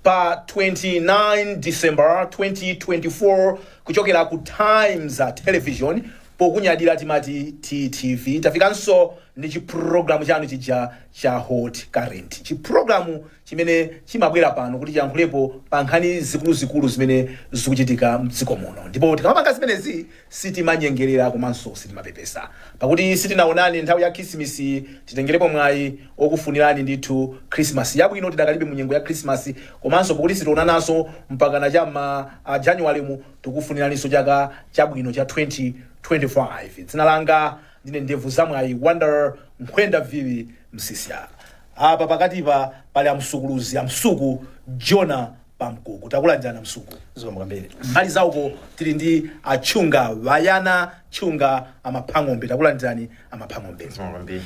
pa 29 december 2024 kuchokera ku times television pokunyadira timati ttv tafikanso ndi chiprogramu chanu chija cha hot current chiprogramu chimene chimabwera pano kuti chiyankhulepo pa nkhani zikuluzikulu zimene zikuchitika mdziko muno ndipo tikamapanga zimenezi Sitimanyengelera komanso sitimapepesa. Pakuti sitinaonane nthawi ya Khisimisiyi, titengelepo mwayi wokufunirani ndithu Khrisimasi yabwino tidakalibe mu nyengo ya Khrisimasi komanso pakuti sitionananso mpakana cha mma a January mu, tikufuniraninso chaka chabwino cha 2025. Dzina langa ndine Ndevu za Mwayi, Wonder, Nkhwenda Vili, Msiska. Apa pakatipa pali a Msuku uluzi, a Msuku, Jonah, Pankuku takulandirani a msuku zikomo kwambiri mbali zauko tili ndi a tchuwa brian tchuwa amaphang'ombe takulandirani amaphang'ombe zikomo kwambiri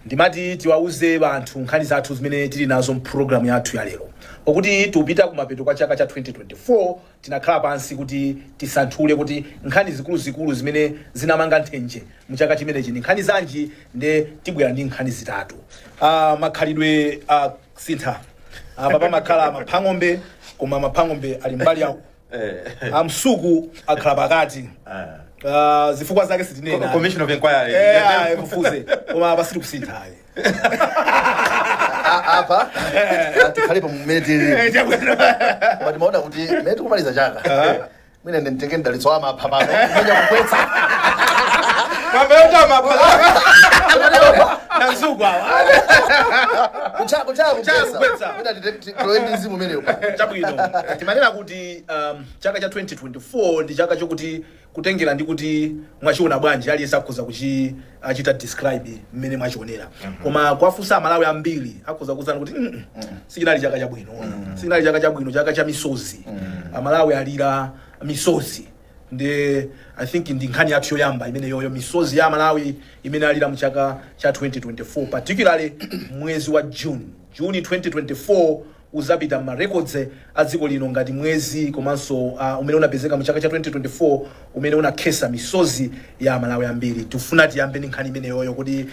ndimati tiwauze anthu nkhani zathu zimene tili nazo mpulogalamu yathu ya lero pakuti tikupita kumapeto kwa chaka cha 2024 tinakhala pansi kuti tisanthule kuti nkhani zikuluzikulu zimene zinamanga nthenje mu chaka chimenechi ndi nkhani zanji nde tibwera ndi nkhani zitatu uh, makhalidwe uh, kusintha apa pamakhala maphang'ombe koma maphang'ombe ali mbali yawo amsuku akhala pakati Ah, zifukwa zake sitinena commission of inquiry Eh, ayi, mufuze koma apa sitikusintha ayi A- apa tikhale pa mmene tili Eh, chakwera. koma timaona kuti mene tikumaliza chaka mwina nditenge mdalitso wa mapha pano kuchinya kugoletsa mapeyota mapha masiku awa kuchaya Kuchaya kukwetsa. kukwetsa mwina nditenge ndi mzimu umenewu chabwino timanena kuti um, chaka cha 2024 ndi chaka chokuti kutengera ndi kuti mwachiona bwanji aliyense akhoza kuchi chita describe mmene mwachionera koma kuwafunsa amalawi ambiri akhoza kukuuzani kuti "Mm, mm, sichinali chaka chabwino sichinali chaka chabwino chaka cha misozi amalawi alira misozi nde i think ndi nkhani yathu yoyamba imeneyoyo misozi ya amalawi imene alira mchaka cha 2024 particularly mwezi wa june june 2024 udzapita mma records a dziko lino ngati mwezi komanso a umene unapezeka mu chaka cha 2024 umene unakhetsa misozi ya amalawi ambiri. Tifuna tiyambe ndi nkhani imeneyoyo kuti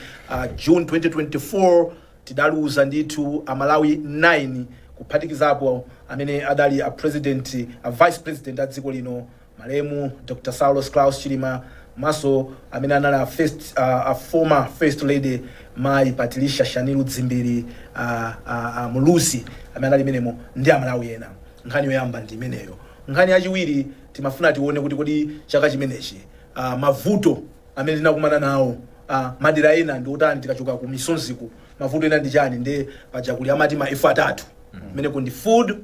June 2024 tidaluza ndithu amalawi 9 kuphatikizapo amene adali a president, a vice president a dziko lino Malemu Dr Saulos Klaus Chilima komanso amene anali a first, a, a former first lady mayi Patricia Shanilu Dzimbiri a, a, a Muluzi amene anali menemo ndi Amalawi ena. Nkhani yoyamba ndi imeneyo. Nkhani yachiwiri timafuna tione kuti kodi chaka chimenechi a, mavuto amene tinakumana nawo a, madera ena ndi otani tikachoka ku misonziku mavuto ena ndi chani ndi paja kuli amati ma F atatu kumeneko ndi food,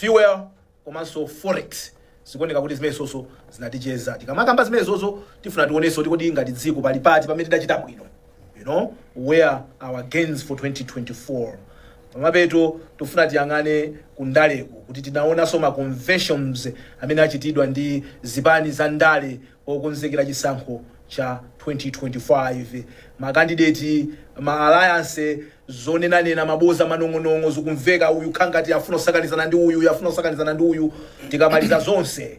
fuel komanso forex zikuoneka kuti zimenezonso zinaticheza tikamakamba zimenezozo tifuna tionenso kuti kodi ngati dziko pali pati pamene tidachita bwino you know where our gains for 2024 pamapeto tifuna tiyang'ane kundaleko kuti tinaonanso ma conventions amene achitidwa ndi zipani za ndale Pokonzekera chisankho cha 2025, makandideti, ma alayanse, zonenanena, maboza, manong'onong'o zikumveka, uyu akukhala ngati afuna kusakanizana ndi uyu, uyu afuna kusakanizana ndi uyu. Tikamaliza zonse,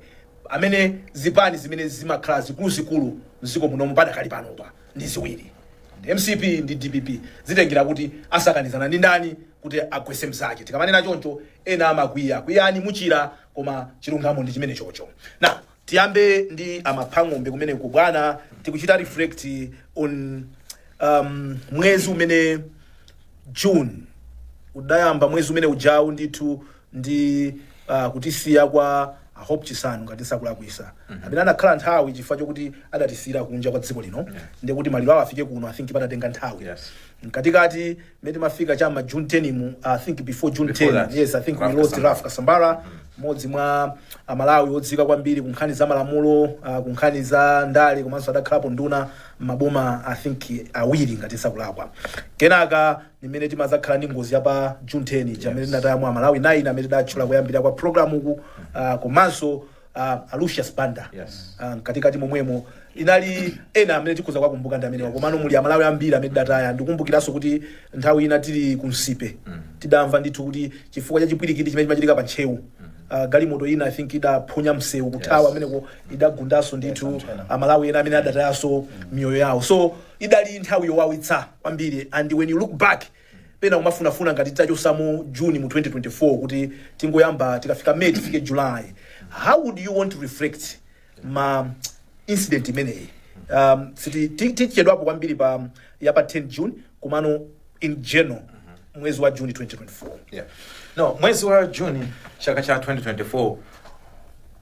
amene zipani zimene zimakhala zikuluzikulu m'dziko muno padakali panopa ndi ziwiri, ndi MCP ndi DPP. Zitengera kuti asakanizana ndi ndani kuti agwetse mnzake. Tikamanena choncho, ena amakwiya. Kwiyani muchira, koma chilungamo ndi chimenechocho. Now. Tiyambe ndi a Maphang'ombe kumeneko bwana, tikuchita reflect on um, mwezi umene June udayamba mwezi umene ujawu ndithu ndi uh, kutisiya kwa a Hope Chisanu ngati sindikulakwitsa amene anakhala nthawi chifukwa chokuti adatisiyira kunja kwa dziko lino ndiye kuti maliro awo afike kuno i think padatenga nthawi Yes. mkatikati Mmene timafika cha ma June 10 mu I think before June 10 Before that, yes I think we lost Ralph Kasambara. Ralph Kasambara mmodzi mwa amalawi odziwika kwambiri ku nkhani za malamulo uh, ku nkhani za ndale komanso adakhalapo nduna maboma I think awiri ngati sindikulakwa kenaka ndi mmene timadzakhala ndi ngozi ya pa June 10 mmene tinatayamo Amalawi 9 amene ndatchula koyambirira kwa program uku uh, komanso a, a Lucius Banda Yes. Ah, mkatikati momwemo inde ena amene tikhoza kuwakumbuka ndi amenewa komano muli Amalawi ambiri amene tidataya ndikumbukiranso kuti nthawi ina tili ku Nsipe tidamva ndithu kuti chifukwa cha chipwirikiti chimene chimachitika pa Ntcheu ah, galimoto ina I think idaphonya msewu kuthawa Yes. ameneko idagundanso ndithu anthu ena. Amalawi ena amene adatayanso miyoyo yawo so idali nthawi yowawitsa kwambiri and when you look back Pena kumafunafuna ngati titachotsamo June mu 2024 kuti tingoyamba tikafika May tifike July. How would you want to reflect ma incident imeneyi? Um, siti ti- tichedwapo kwambiri pa ya pa 10 June komano in general mwezi wa June 2024. Yeah. No, mwezi wa June chaka cha 2024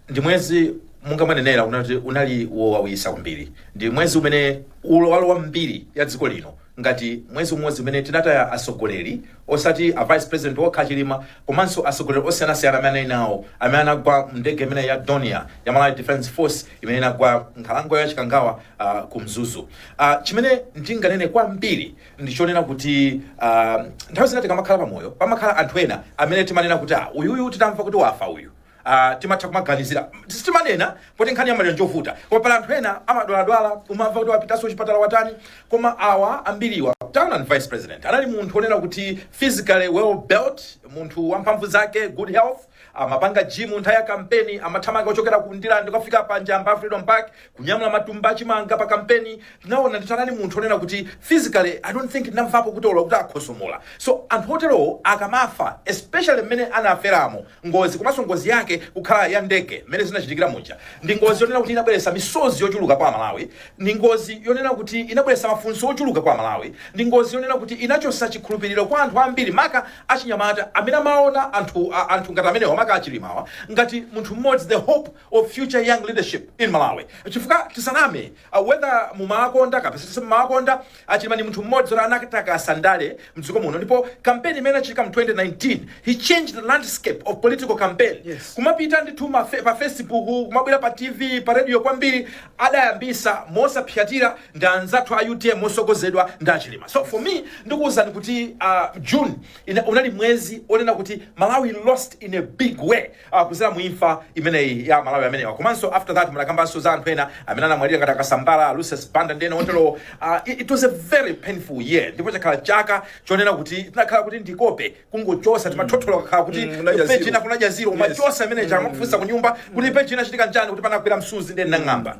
ndi mwezi monga mwanenera unati unali wowawitsa kwambiri ndi mwezi umene ulo walowa m'mbiri ya dziko lino ngati mwezi umodzi umene tinataya atsogoleri osati a vice president okha chilima komanso atsogoleri osiyanasiyana amene anali nawo amene anagwa m'ndege imene ya dornier ya malawi defense force imene inagwa nkhalango ya chikangawa uh, ku mzuzu uh, chimene ndinganene kwambiri ndichonena kuti uh, nthawi zina tikamakhala pamoyo pamakhala anthu ena amene timanena kuti ah, uyuyu titamva kuti wafa uyu Ah, timatha kumaganizira sitimanena poti nkhani ya maliro njovuta koma pali anthu ena amadwaladwala umamva kuti wapitanso chipatala watani koma awa ambiriwa taonani vice president anali munthu onena kuti physically well built munthu wamphamvu zake good health amapanga gym nthawi ya kampeni amathamanga kuchokera ku ndilande kukafika pa njamba freedom park kunyamula matumba achimanga pa kampeni tinaona ndithu anali munthu onena kuti physically i don't think ndinamvapo kuti olo kuti akhosomola so anthu oterowo akamafa especially mmene anaferamo Ngozi komanso ngozi yake kukhala ya ndege mmene zinachitikira muja ndi ngozi yonena kuti inabweretsa misozi yochuluka kwa Amalawi, ndi ngozi yonena kuti inabweretsa mafunso ochuluka kwa Amalawi, ndi ngozi yonena kuti inachotsa chikhulupiriro kwa anthu ambiri maka achinyamata amene amaona anthu a- anthu ngati amenewa maka achilimawa ngati munthu mmodzi the hope of future young leadership in Malawi. Chifukwa tisaname uh, whether mumawakonda kapena simumawakonda A Chilima ndi munthu mmodzi oti anatakasa ndale mdziko muno ndipo campaign imene inachitika mu 2019 he changed the landscape of political campaign Yes. kumapita ndithu ma fe- pa facebook kumabwera pa tv pa radio kwambiri adayambisa mosapsatira ndi anzathu a utm motsogozedwa ndi a Chilima so for me ndikuwuzani kuti uh, june ina, unali mwezi onena kuti malawi lost in a big way uh, kuzera mu imfa imeneyi ya amalawi amenewa komanso after that munakambanso za anthu ena amene anamwalira ngati akasambala lucius banda ndi ena oterowo uh, it, it was a very painful year ndipo chakhala chaka chonena kuti chinakhala kuti ndi kope kungochosa timathothola kakhala kuti Mm, kunaja peji zero. ina kunaja zero Yes. umachosa imene ija akamakufunsa ku nyumba kuti peji inachitika nchani kuti panagwera msuzi nde ndinang'amba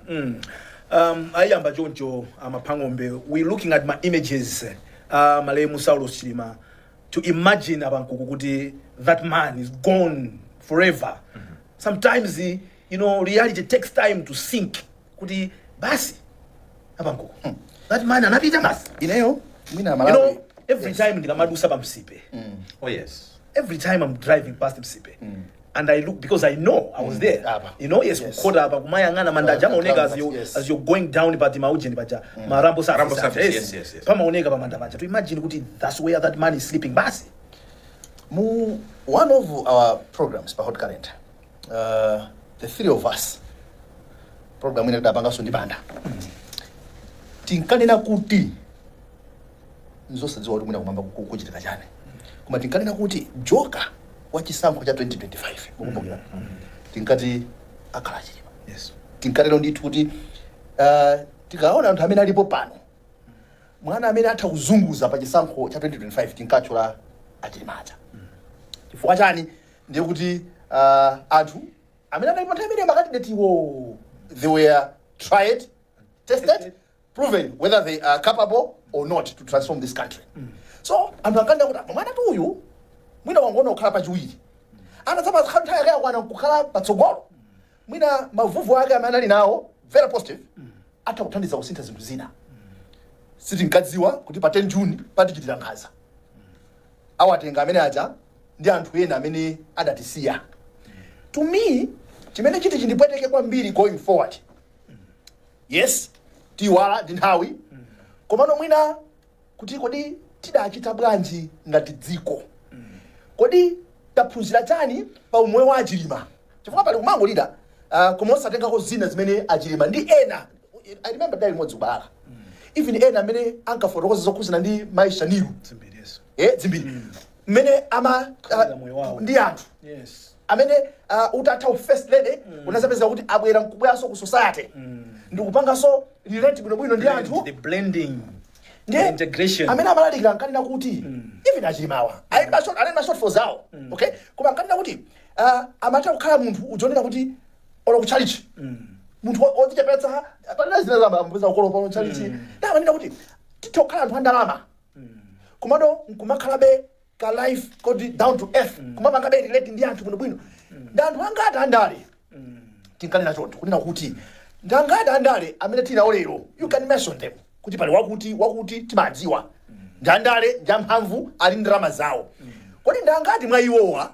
um, ayamba choncho amaphang'ombe we looking at ma images uh, malemu saulos chilima to imagine abankuku kuti that man is gone forever mm -hmm. sometimes you know reality takes time to sink kuti basi abankuku mm. that man anapita basi ineyo mina malawi you know, every yes. time ndikamadusa pamsipe mm. oh yes every time i'm driving past msipe mm. and I look because I know I was there. Apa. You know, yes, Yes. kukhota apa kumayang'ana manda aja Kumayang'ana amaoneka as you yes. as you're going down but maujeni paja marambo surface. Marambo aja, surface, yes, yes, yes. Pamaoneka pa manda paja. To imagine kuti that's where that man is sleeping basi. Mu one of our programs pa Hot Current, uh, the three of us, program ina tidapanganso ndi Banda, tinkanena kuti nzosadziwa kuti mwina kumwamba ku- kuchitika chani koma tinkanena kuti joka wa chisankho cha 2025 mukumbukira tinkati akhala chilima yes tinkanena ndithu kuti ah, tikaona anthu amene alipo pano mwana amene atha kudzazunguza pa chisankho cha 2025 tinkatchula achilima chifukwa chani ndiye kuti ah, anthu amene anali pa nthawi imene makandidate iwo they were tried tested proven whether they are capable or not to transform this country so anthu akanena kuti apa mwanatu uyu mwina wangokhala kukhala pachiwiri anadzapakhala nthawi yake yakwana kukhala patsogolo mwina mavuvu ake amene anali nawo very positive atha kuthandiza kusintha zinthu zina sitinkadziwa kuti pa 10 june patichitila nkhanza awatenga amene aja ndi anthu ena amene adatisiya to me chimene chiti chindipweteke kwambiri going forward yes tiyiwala ndi nthawi komano mwina kuti kodi tidachita bwanji ngati dziko kodi taphunzira chani pa umoyo wa a Chilima chifukwa pali kumangolira uh, koma osatengako zina zimene a Chilima ndi ena i remember tidali limodzi ku Balaka even ena amene ankafotokoza zokhuzana ndi mai Shanil Dzimbiri. eh, Dzimbiri mmene amakhalira moyo wawo. ndi anthu Yes. amene uh, utatha u first lady mm. unazapeza kuti abwera nkubweranso ku society mm. ndikupanganso relate bwinobwino ndi anthu the blending ndiye The integration. amene amalalikira ankanena kuti even a Chilimawa ali ndi ma short- ali ndi ma shortfalls awo okay koma ankanena kuti uh, amatha kukhala munthu uja onena kuti olo ku church munthu wo- wodzichepetsa pena zina uzampeza akukolopa mu tchalitchi ndiye amanena kuti titha kukhala anthu andalama komano nkumakhalabe ka life koti down to earth kumapangabe relate ndi anthu bwinobwino ndi anthu angati andale tinkanena choncho kunena kuti ndi angati andale amene tili nawo lero you can mention them kuti pali wakuti wakuti timadziwa ndi andale ndi amphamvu ali ndi ndalama zawo kodi ndi angati mwa iwowa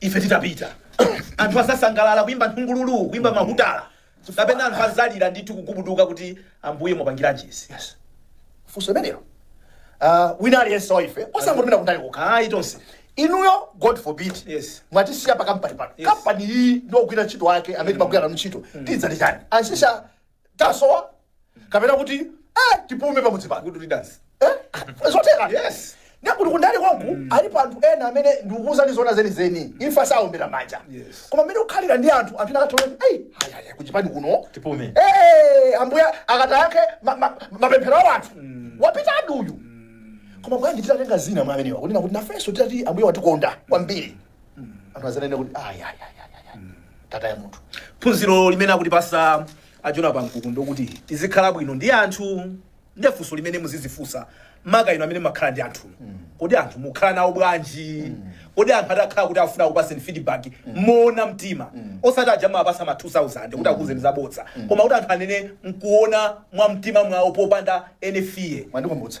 ife titapita anthu azasangalala kuimba nthungululu kuimba mahutala kapena anthu azalira ndithu kugubuduka kuti ambuye mwapangiranji izi yes funso limenelo uh, wina aliyense wa ife osangotumira kundale kokha ayi tonse inuyo god forbid Yes. mwatisiya pa kampani pano Yes. kampani iyi ndi ogwira ntchito wake amene timagwira nanu ntchito tidzati chani a Msiska tasowa kapena kuti eh, tipume pamudzi pano good riddance Eh, zotheka Yes. ndiye kuti kundali konko alipo anthu ena amene ndikukuuzani zona zenizeni imfa saombera manja Yes. koma mmene ukhalira ndi anthu anthu nakatoei ayaya kuchipani kuno Tipume. Eh, ambuye akatiyankhe ma- ma- mapemphero a anthu wapita aduyu koma bwanji titatenga zina mwa amenewa kunena kuti nafenso titati ambuye watikonda kwambiri anthu azanene kuti "Ah, ya, ya, ya, ya, ya. tataya munthu phunziro limene akutipasa a Jonah Pankuku ndi lokuti tizikhala bwino ndi anthu ndi funso limene muzizifunsa maka inu amene mumakhala ndi anthu kodi anthu mukhala nawo bwanji kodi anthu atakhala kuti afuna akupaseni feedback moona mtima osati aja mumaapasa ma 2000 kuti akuuzeni zabodza koma kuti anthu anene nkuona mwa mtima mwawo popanda any fear mwandikumbutsa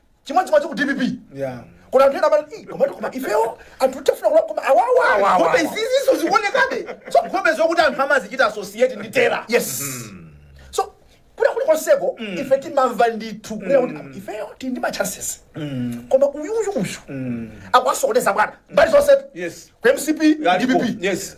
chimodzimodzi ku dpp Yeah. kuna anthu ena amati "Ih, komatu koma ifewo anthu tafuna kula koma awawa Awawa. nkhope izizinso zikuonekabe so nkhope zokuti anthu amazichita associate ndi terror yes so kwina kulikonseko ife timamva ndithu kunena kuti "Ah, ifeyo tili ndi ma chances koma uyuyu uyu akuwasokoneza bwana mbali zonse Yes. ku mcp Alipo. dpp Yes.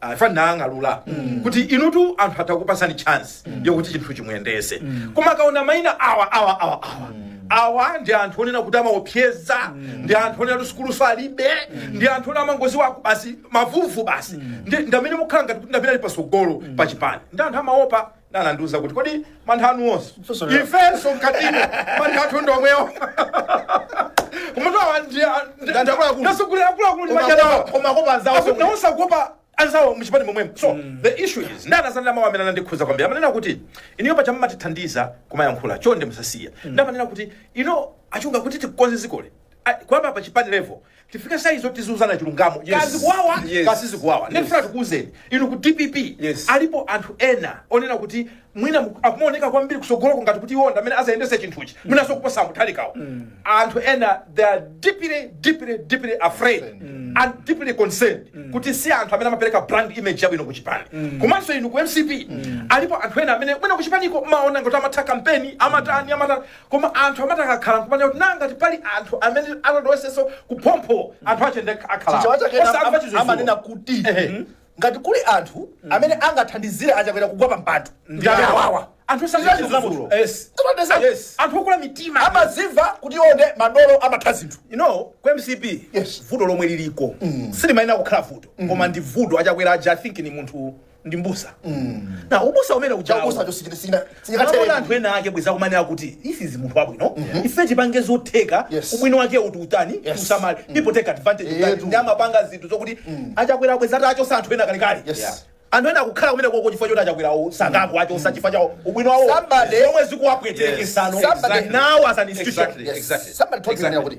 afa nang'alula kuti inutu anthu atha kukupasani chance yokuti chinthuchi muyendese koma akaona maina awa awa awa awa awa ndi anthu onena kuti amaopseza ndi anthu onena kuti sukulu salibe ndi anthu onena amangoziwa aku- basi mavuvu basi Ndi- ndamene mukhala ngati kuti ndamene ali pasogolo pa chipani ndiye anthu amaopa Ena anandiuza kuti, Kodi mantha anu onse? Funso lina. Ifenso mkatimo mantha athu ndi omwewo. Komatu awa ndi Ndi anthu akuluakulu. ndasogoleri akuluakulu ndi Koma machana awa. kopa- koma kuopa anzawo Akuti sokwe. nawonso akuopa anzawo mchipani momwemo. So the issue is nde anazanena mawu amene anandikhuza kwambiri. Amanena kuti inuyo paja mumatithandiza kumayankhula chonde musasiye. Nde amanena kuti inu a Chunga kuti tikonze zikoli. A- Kuyamba pa chipani level tifike size yoti tiziuzana chilungamo Yes. kaya zikuwawa Yes. kaya sizikuwawa Yes. ndikufuna tikuuzeni inu ku dpp Yes. alipo anthu ena onena kuti mwina mu- akumaoneka kwambiri kusogoloko ngati kuti iwo ndamene azayendese chinthuchi mwinaso kuposa mutharikawo anthu ena they are deeply deeply deeply afraid and deeply concerned kuti si anthu amene amapereka brand image yabwino ku chipani komanso inu ku mcp alipo anthu ena amene mwina ku chipaniko mmaona ngati amatha kampeni amatani amatani Koma anthu amati akakhala nkumanena kuti nanga ngati pali anthu amene atatilowesenso kuphompho anthu ache ndi akhalao Chichewa chake ena osakumva am- chizuzulo. amanena kuti Ehe. ngati kuli anthu amene angathandizire achakwera kugwa pa mpando ndi amene awawa anthu osakumva Chichewa chizuzulo. chizuzulo. Yes. Timatesa. Yes. anthu okula mitima amazimva kuti iwo nde madolo amatha zinthu you know ku mcp Yes. vuto lomwe liliko silimayenera kukhala vuto koma ndi vuto achakwera aja i think ni munthu ndi mbusa na ubusa umene ujawo Chaubusacho sichina sichina Akaona anthu sijingatele. ena ake bweza kumanena kuti he is munthu wabwino ife tipange zotheka Yes. ubwino wake uti utani Yes. usamale people take advantage Eh, utani tu. ndi amapanga zinthu zokuti achakwera bweza atawachosa anthu ena kalekale Yes. Yeah. anthu ena akukhala kumenekoko chifukwa choti achakwerawo sangakawachose chifukwa cha ubwino wawo Somebody- zomwe zikuwapwetekesano Somebody- now as an institution Exactly. Yes. Somebody told me Exactly. kuti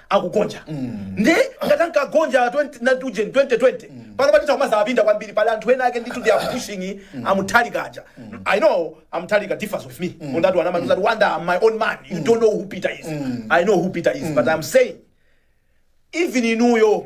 akugonja nde ngati ankagonja 20 na tuje 2020 panopa titha kumazawapinda kwambiri pali anthu ena ake ndithu they are pushing amutharika aja i know amutharika differs with me on that one amati wonder i'm my own man you don't know who peter is i know who peter is but i'm saying even inuyo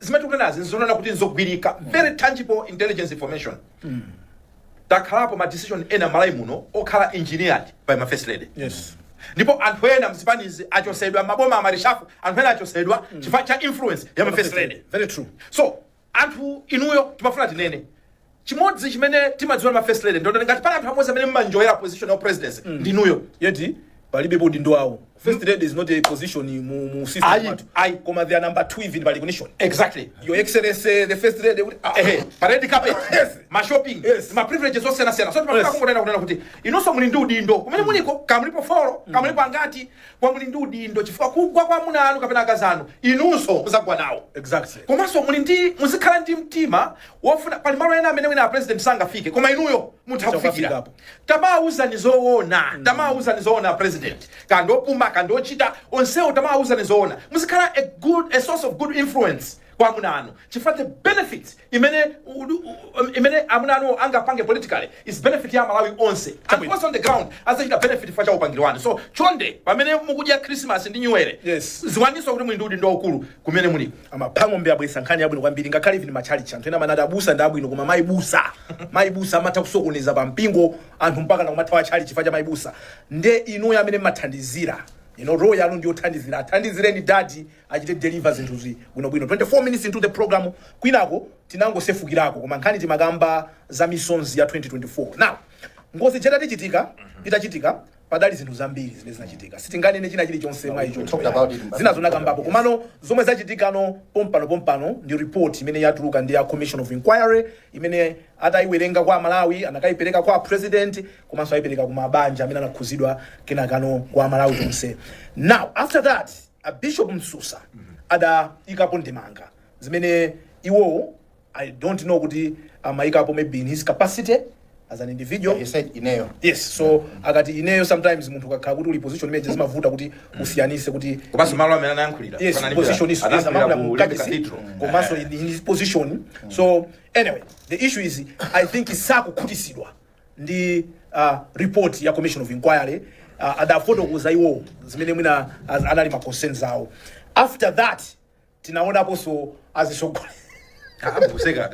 zimene tikunenazi nzonena kuti nzogwirika very tangible intelligence information akhalapo ma decision ena malawi muno okhala engineered by ma first lady yes ndipo anthu ena mzipanizi achosedwa maboma ama reshuffle anthu ena achosedwa chifukwa cha influence ya ma first lady very true so anthu inuyo timafuna tinene chimodzi chimene timadziwa ma first lady ndoti ngati pali anthu amodzi amene mma enjoyera position ya presidency ndinuyo yet palibe udindo wawo first lady is not a position mu, mu system Ayi, athu. ayi. koma they are number 2 even by recognition exactly your excellency the first lady kuti- ah, ehe pa red carpet Yes. ma shopping Yes. ma privileges osiyana siyana so timafuna Yes. kungonena kunena kuti inunso muli ndi udindo kumene muliko kaya mulipo folo kaya mulipo angati koma muli ndi udindo chifukwa kugwa kwa amuna anu kapena akazi anu inunso muzagwa nawo exactly komanso muli ndi muzikhala ndi mtima wofuna pali malo ena amene wina a president sangafike koma inuyo mutha kufikira Mukafikapo. tamawauzani zoona tamawauzani zoona a president kandi opuma kandi ochita onsewo tamawauzani zoona muzikhala a good a source of good influence kwa amuna anu chifukwa the benefits imene u- u- imene amuna anu angapange politically is benefit ya malawi onse and Chabwino. also on the ground azachita benefit chifukwa cha upangiri wanu so chonde pamene mukudya christmas ndi new year Yes. ziwaninso kuti muli ndi udindo waukulu kumene muliko A Maphang'ombe abweresa nkhani yabwino kwambiri ngakhale even ma chalichi anthu ena amanati abusa ndi abwino koma mayi busa mayi busa amatha kusokoneza pa mpingo anthu mpaka nakumathawa chalichi chifukwa cha mayi busa nde inuyo amene mmathandizira role yanu ndiyothandizira athandizireni dadi achite deliver zinthuzi bwinobwino 24 minutes into the program kwinako tinangosefukirako koma nkhani timakamba za misonzi ya 2024 now ngozi ija itachitika itachitika padali zinthu zambiri zimene zinachitika sitinganene china chilichonse mwa icho Talked about it in- zina zonakambapo komano zomwe zachitikano pompano pompano ndi report imene yatuluka ndi ya commission of inquiry imene atayiwerenga kwa amalawi anakayipereka kwa a president komanso ayipereka ku mabanja amene anakhuzidwa kenakano kwa amalawi tonse now after that a bishop msusa adayikapo ndemanga zimene iwowo I don't know kuti amaikapo maybe in his capacity as an individual He said ineyo. yes so akati ineyo sometimes munthu ukakhala kuti uli pa position imeneyo zimavuta kuti usiyanise kuti komanso malo amene anayankhulira yes Panali position is yes anayankhulira amayankhula mu kachisi Cathedral. komanso in in his position so anyway the issue is i think sakukhutisidwa ndi uh, report ya commission of inquiry uh, adafotokoza iwo zimene mwina az- anali ma concerns awo after that tinaonaponso azitsogoleri akuseka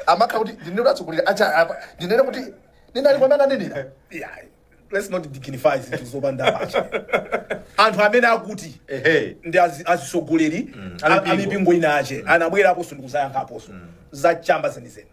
amakha kuti ndinene kuti atsogoleri acha apa ndinene kuti ndinali kwamene anenera Yeah, let's not dignify zinthu zopanda pacha anthu amene akuti ehe ndi azi- azitsogoleri a- amipingo. amipingo ina ache anabweraponso ndikuzayankhulaponso za chamba zenizeni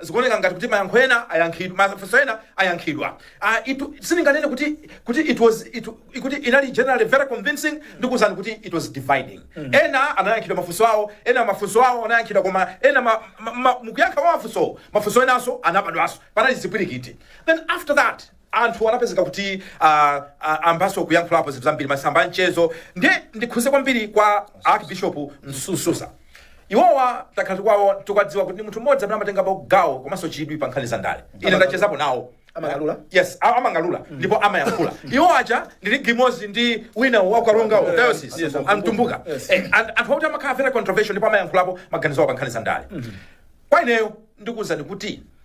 Zikuoneka ngati kuti mayankho ena ayankhidwa, mafunso ena ayankhidwa. Ah, it, sindinganene kuti kuti it was it, kuti inali generally very convincing ndikuwuzani kuti it was dividing. Ena anayankhidwa mafunso awo, ena mafunso awo anayankhidwa koma ena ma, ma, ma, mukuyankha kwa mafunso, mafunso enanso anabadwanso. Panali zipwirikiti. Then after that anthu anapezeka kuti ah, ah, ambanso kuyankhulapo zinthu zambiri m'masamba amchezo ndi ndikhuze kwambiri kwa archbishop msusa iwowa takhala tikuwaona tikuwadziwa kuti ndi munthu mmodzi amene amatengapo gawo komanso chidwi pa nkhani za ndale ine ndachezapo nawo Amayankhula? yes a- amayankhula ndipo amayankhula iwo aja ndi league imozi ndi wina waku Karonga wa diocese Yes, a Mtumbuka Yes. Eh, and- anthu akuti amakhala very controversial ndipo amayankhulapo maganizo awo pa nkhani za ndale kwa ineyo ndikuwuzani kuti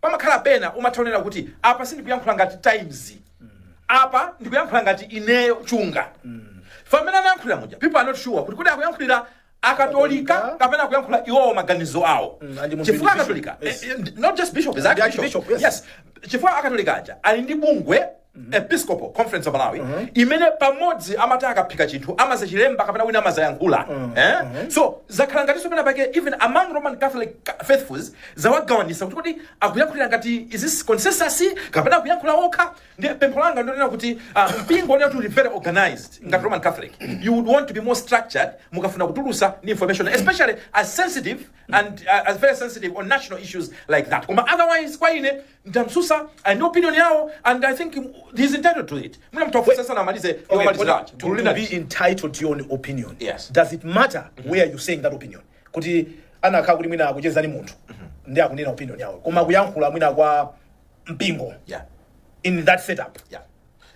pamakhala pena umatha kunena kuti apa sindikuyankhula ngati times apa ndikuyankhula ngati ineyo chunga mmene anayankhulira muja people are not sure kuti kodi akuyankhulira akatolika Akatolika. kapena akuyankhula iwowo maganizo awo Mm, and mu chifukwa bishop. akatolika Yes. eh, eh, not just bishop is Ndi archbishop archbishop, yes. Yes chifukwa akatolika aja ali ndi bungwe episcopal conference of malawi imene pamodzi amati akaphika chinthu amazachilemba kapena wina amazayankhula eh? so zakhala ngatinso pena pake even among roman catholic ca- faithfuls zawagawanisa kuti kodi akuyankhulira ngati is this consensus kapena akuyankhula okha nde pempho langa ndonena kuti ah, mpingo onena kuti uli very organized ngati roman catholic you would want to be more structured mukafuna kutulusa ni information especially as sensitive and uh, as very sensitive on national issues like that koma otherwise kwa ine Nde a Msusa ali ndi opinion yawo and I think he is entitled to it. Mwina mtu afusa sana amalize okay, Okay, amalize but to, to be entitled to your own opinion Yes. does it matter where you saying that opinion kuti anakhala kuti mwina akucheza ndi munthu ndi akunena opinion yawo koma kuyankhula mwina kwa mpingo Yeah. in that setup Yeah.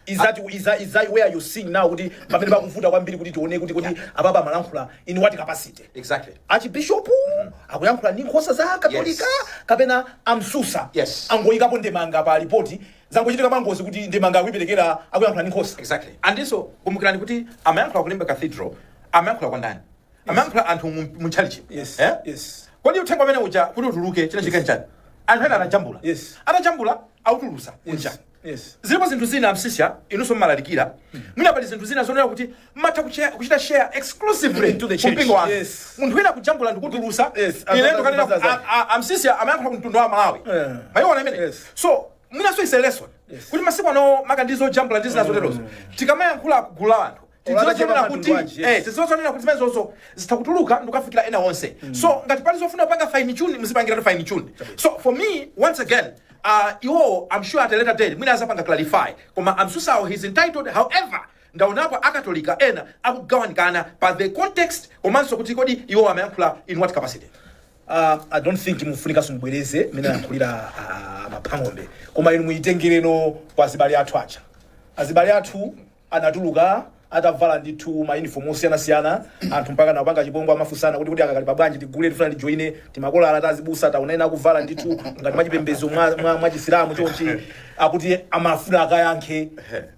Is that, is that, is that where you seeing now kuti pamene pakuvuta kwambiri kuti tione kuti kodi apapa amalankhula in what capacity exactly archbishop akuyankhula ndi nkhosa za katolika kapena amsusa Yes. angoyikapo ndemanga pa lipoti zangochitika pangozi kuti ndemanga akuiperekera akuyankhula ndi nkhosa exactly and so kumbukirani kuti amayankhula ku Limbe cathedral amayankhula kwa ndani amayankhula anthu mu- mu chalichi Yes, Eh? yes. kodi uthenga umene uja kuti utuluke chinachitika ndi chani anthu ena anajambula Yes. anajambula autulusa kunja Yes. zilipo zinthu zina amsisya inunso mmalalikira mwina pali zinthu zina zonena kuti mmatha kuche- kuchita share exclusively To the church. kumpingo wanu Yes. munthu wina kujambula ndikutulusa Yes, ine azana- ndikanena kuti azana. a- a- amsusa amayankhula ku mtundu wa malawi Eh. mwayiona imene Yes. so mwinanso is a lesson Yes. kuti masiku ano maka ndi zojambula ndi zina zoterozo tikamayankhula kugulu la anthu tidziwe Olakatema zonena kuti katundu aje. eh, tidziwe zonena kuti zimenezozo zitha kutuluka ndikukafikira ena onse so ngati pali zofuna kupanga fine tune muzipangiratu fine tune so for me once again uh, iwowo i'm sure at a later date mwina azapanga clarify koma amsusawo he's entitled however ndaonapo akatolika ena akugawanikana pa the context komanso kuti kodi iwo amayankhula in what capacity Uh, I don't think mufunika ndibwereze mene anayankhulira uh, Mapang'ombe koma inu muyitengere no kwa azibale athu aja azibale athu anatuluka atavala ndithu ma uniform osiyana siyana anthu mpakana kupanga chipongwe amafunsana kuti kodi akakali pa bwanji tigule tifuna tijoine timakolala tazibusa taona ena akuvala ndithu ngati mwachipembedzo mwa, mwa, mwa chisilamu chonchi akuti amafuna akayankhe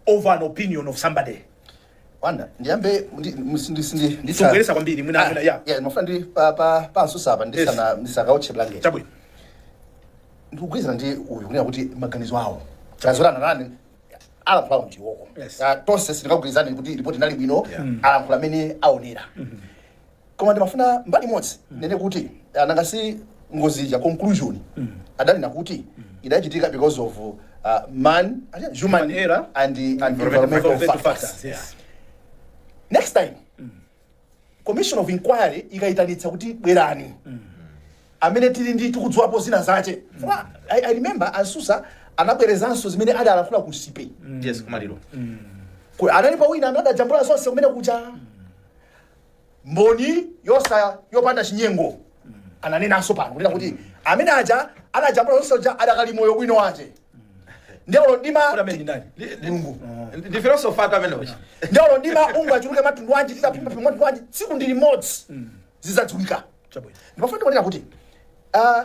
over an opinion of somebody wanda ndiyambe ndi- musi- ndisi- ndi- ndisa- Sungochedwetsa kwambiri, mwina- Ah, mwina, yeah. yeah, ndimafuna ndi pa- pa- pansusa apa ndisana- ndisakaotche blanket chabwino ndikugwirizana ndi uyu kunena kuti maganizo awo azorana nane alankhula m'diwoko Yes. Ah, tonse sitingagwirizane kuti ripoti inali bwino Yeah. alankhula amene aonera koma ndimafuna mbali imodzi nene kuti ah, nanga si ngozi ija conclusion adanena kuti idachitika because of uh, human, Human error and, and environmental Environmental factors factors, yes. next time commission of inquiry ikayitanitsa kuti bwerani amene tili ndi tikudziwapo zinazake Fwa, I, i remember aMsusa anabwerezanso zimene adalankhula ku sipe yes kumaliro Ku- analipo wina amene adajambula zonse kumene kuja mboni yoona yopanda chinyengo ananenanso pano kunena kuti amene aja anajambula zonse uja adakali moyo bwino wake ndiye olo mdima Kodi ameneyo ndi ndani? mulungu Ndi- ndi filosofa amene uja ndiye olo mdima ungachuluke mwa mtundu wanji titabisa bisa mwa mtundu wanji tsiku ndi limodzi zizadziwika Chabwino. ndimafuna ndinene kuti ah,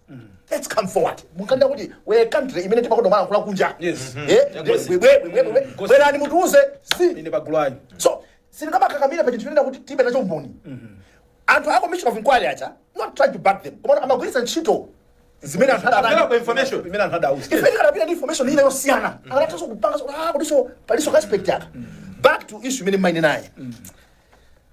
Let's come forward. Mukanena kuti we are a country imene timakonda kulankhula kunja. Yes. Eh? We we we we. Bwerani mutiuze. Si. Ine bagulani. So, sindingamakakamire pa chinthu choti tilibe nacho mboni. Anthu a commission of inquiry aja, not trying to back them. Koma amagwiritsa ntchito zimene anthu Abela adana. kwa information. Imena anthada house. Ifenso tikanapita ndi information ina yosiyana. Akanatha kupanga so ah kutinso palinso aspect yake. Back to issue imene munanena.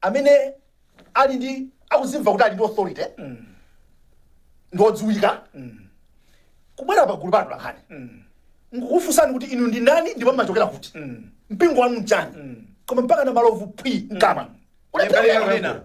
amene ali ndi akuzimva kuti ali ndi authority ndi odziwika kubwera pagulu pa anthu atolankhani nkukufunsani kuti inu ndi ndani ndipo mmachokera kuti mpingo wanu mchani koma mpaka na malovu phwi mkama Kulephera Kulephera kunena. kunena.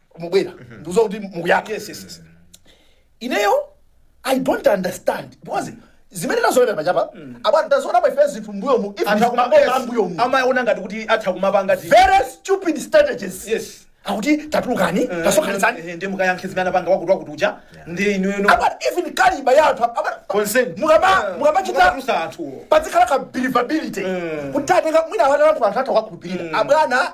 mubwera ndikuziwa kuti mukukayankha yes yes yes ineyo i don't understand because zimene zayenda apapa abwana tazoona paife zinthu mbuyomu anthu akumabwera mbuyomu amaona ngati kuti atha kumapanga zi- very stupid strategies Yes. akuti tatulukani tasokhanitsani Eh, ndi mukayankhe zimene anapanga wakuti wakuti uja ndi inu inu abana even caliber ya anthu abana Consent. mukama Eh, mukamachita mukamatulutsa anthuwo. pazikhala ka believability kuti tatenga mwina abwana anthu anthu atha kukhulupirira abwana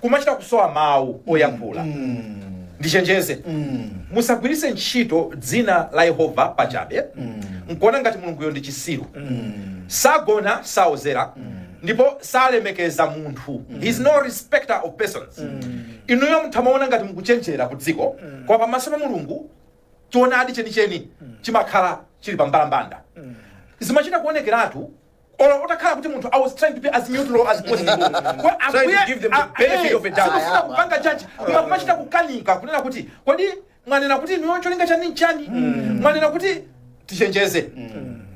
kumachita kusowa mawu oyankhula ndichenjeze musagwiritse ntchito dzina la yehova pachabe nkuona ngati mulunguyo ndi chisiru sagona saozera ndipo salemekeza munthu he is no respecter of persons inuyo mutha kumaona ngati mukuchenjera ku dziko koma pamaso pa mulungu choonadi chenicheni chimakhala chili pambalambanda zimachita kuonekeratu olo utakhala kuti munthu i was trying to be as neutral as possible Kwa Trying to ambuye give them the a- benefit eh, of a doubt. sindikufuna kupanga judge koma kumachita kukanika kunena kuti kodi mwanena kuti inuyo cholinga chanu nchani mwanena kuti tichenjeze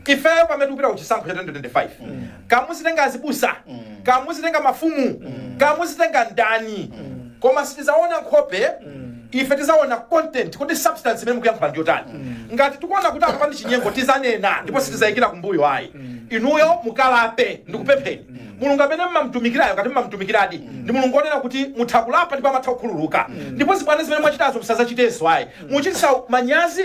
ifeyo pamene tikupita kuchisankho cha 2025 kaya muzitenga azibusa kaya muzitenga mafumu kaya muzitenga ndani koma tiziona nkhope ife tizaona content kuti substance imene mukuyankhula ndiyotani ngati tikuona kuti apa ndi chinyengo tizanena ndipo sitizayikira kumbuyo ayi inuyo mukalape ndikupempheni mulungu amene mmamtumikirayo ngati mmamtumikiradi ndi mulungu onena kuti mutha kulapa ndipo amatha kukhululuka ndipo zibwana zimene mwachitazo musazachitenso ayi muchitisa manyazi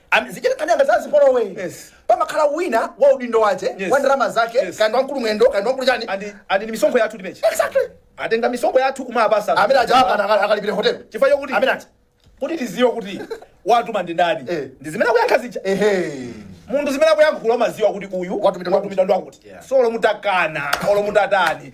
Am, zichitika nkhani yanga za zipolowe. Yes. Pamakhala wina wa udindo wache, Yes. wa ndalama zake, Yes. kaya ndi wa mkulu mwendo, kaya ndi wa mkulu chani. And and ni misongo yathu timechi. Exactly. Atenga misongo yathu kumapasa. Amene aja apa akalipire hotel. Chifukwa chokuti Amene ati. kuti tiziwe kuti watuma ndi ndani. Eh. Ndi zimene akuyankha zija. Ehe. Munthu zimene akuyankhula umaziwa kuti uyu Watumidwa ndi wakuti. ndi wakuti. Yeah. So olo mutakana, olo mutatani.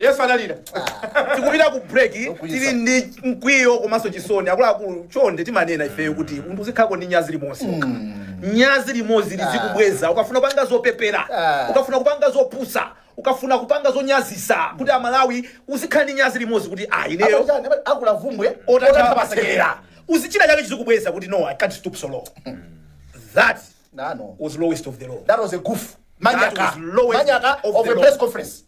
Yesu analira. Tikupita ku break tili ndi mkwiyo komanso chisoni akuluakulu chonde timanena ifeyo kuti munthu uzikhalako ndi nyazi limodzi okha. nyazi limodzi lizikubweza ukafuna kupanga zopepera Ah. ukafuna kupanga zopusa ukafuna kupanga zonyazisa kuti amalawi uzikhala ndi nyazi limodzi kuti ah ineyo Apa chani? Apa akula vumbwe. otatha pasekera uzichita chako chizikubweza kuti no i can't stoop so low that That was lowest of the low. That was a goof. Manyaka. That was lowest Manyaka of, of the a press conference.